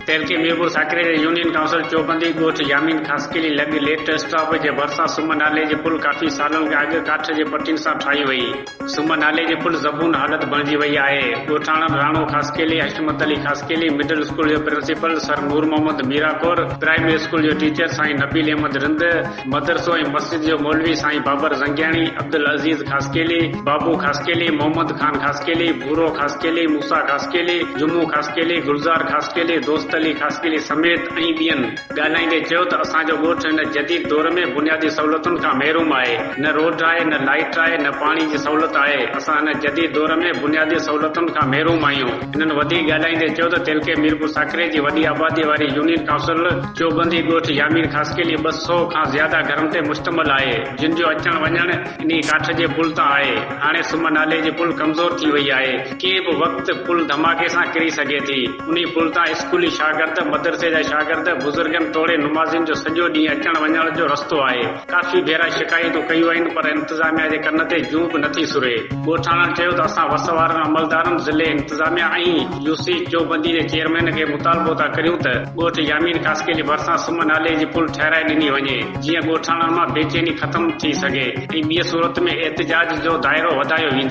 تيرڪي ميرپور ساڪري جي union council Chobandi ڳوٺ يامين خاصخيلي لڳ ليٽ اسٽاپ جي ڀرسان سم نالي جي پل ڪافي سالن کان اڳ ڪاٺ جي پٽين سان ٺاهي وئي. سم نالي جي پل زبون حالت بڻجي وئي آهي. ڳوٺاڻن راڻو خاصخيلي، حشمت علي خاصخيلي، مڊل اسڪول جو principal sir Noormuhammad Mirakor, primary school جو ٽيچر سائين نبيل احمد رند، مدرسو ۽ مسجد جو مولوي سائين بابر زنگياڻي، عبدالعزيز خاصخيلي، بابو خاصخيلي، محمد خان خاصخيلي، ڀورو خاصخيلي، موسيٰ خاصخيلي، جمعو خاصخيلي، گلزار خاصخيلي، دوست علي خاصخيلي سميت ۽ ٻين ڳالهائيندي چيو ته اسان جو ڳوٺ هن جديد دور ۾ بنيادي سهولتن کان محروم آهي، نه روڊ آهي، نه لائيٽ آهي، نه پاڻي جي سهولت آهي، اسان هن جديد دور ۾ بنيادي سهولتن کان محروم آهيون. هنن وڌيڪ ڳالهائيندي چيو ته تعلقي ميرپور ساڪري جي وڏي آبادي واري يونين ڪائونسل چوبندي ڳوٺ يامير خاصخيلي ٻه سؤ کان زياده گهرن تي مشتمل آهي جن جو اچڻ وڃڻ انهي ڪاٺ جي پل تان آهي هاڻي سم نالي جي پل ڪمزور ٿي وئي آهي ڪنهن به وقت پل ڌماڪي سان ڪري سگهي ٿي انهي پل تان اسڪولي شاگرد مدرسي جا شاگرد بزرگن توڙي نمازين جو سڄو ڏينهن اچڻ وڃڻ جو رستو آهي. ڪافي ڀيرا شڪايتون ڪيون آهن پر انتظاميا جي ڪن تي جون به نٿي سري. ڳوٺاڻن چيو ته اسان وس وارن عملدارن، ضلعي انتظاميا ۽ يو سي چوبندي جي چيئرمين کي مطالبو ٿا ڪريون ته ڳوٺ يامين خاصخيل جي ڀرسان سم نالي جي پل ٺهرائي ڏني وڃي جيئن ڳوٺاڻن مان بيچيني ختم ٿي سگهي ۽ ٻي صورت ۾ احتجاج جو دائرو وڌايو ويندو.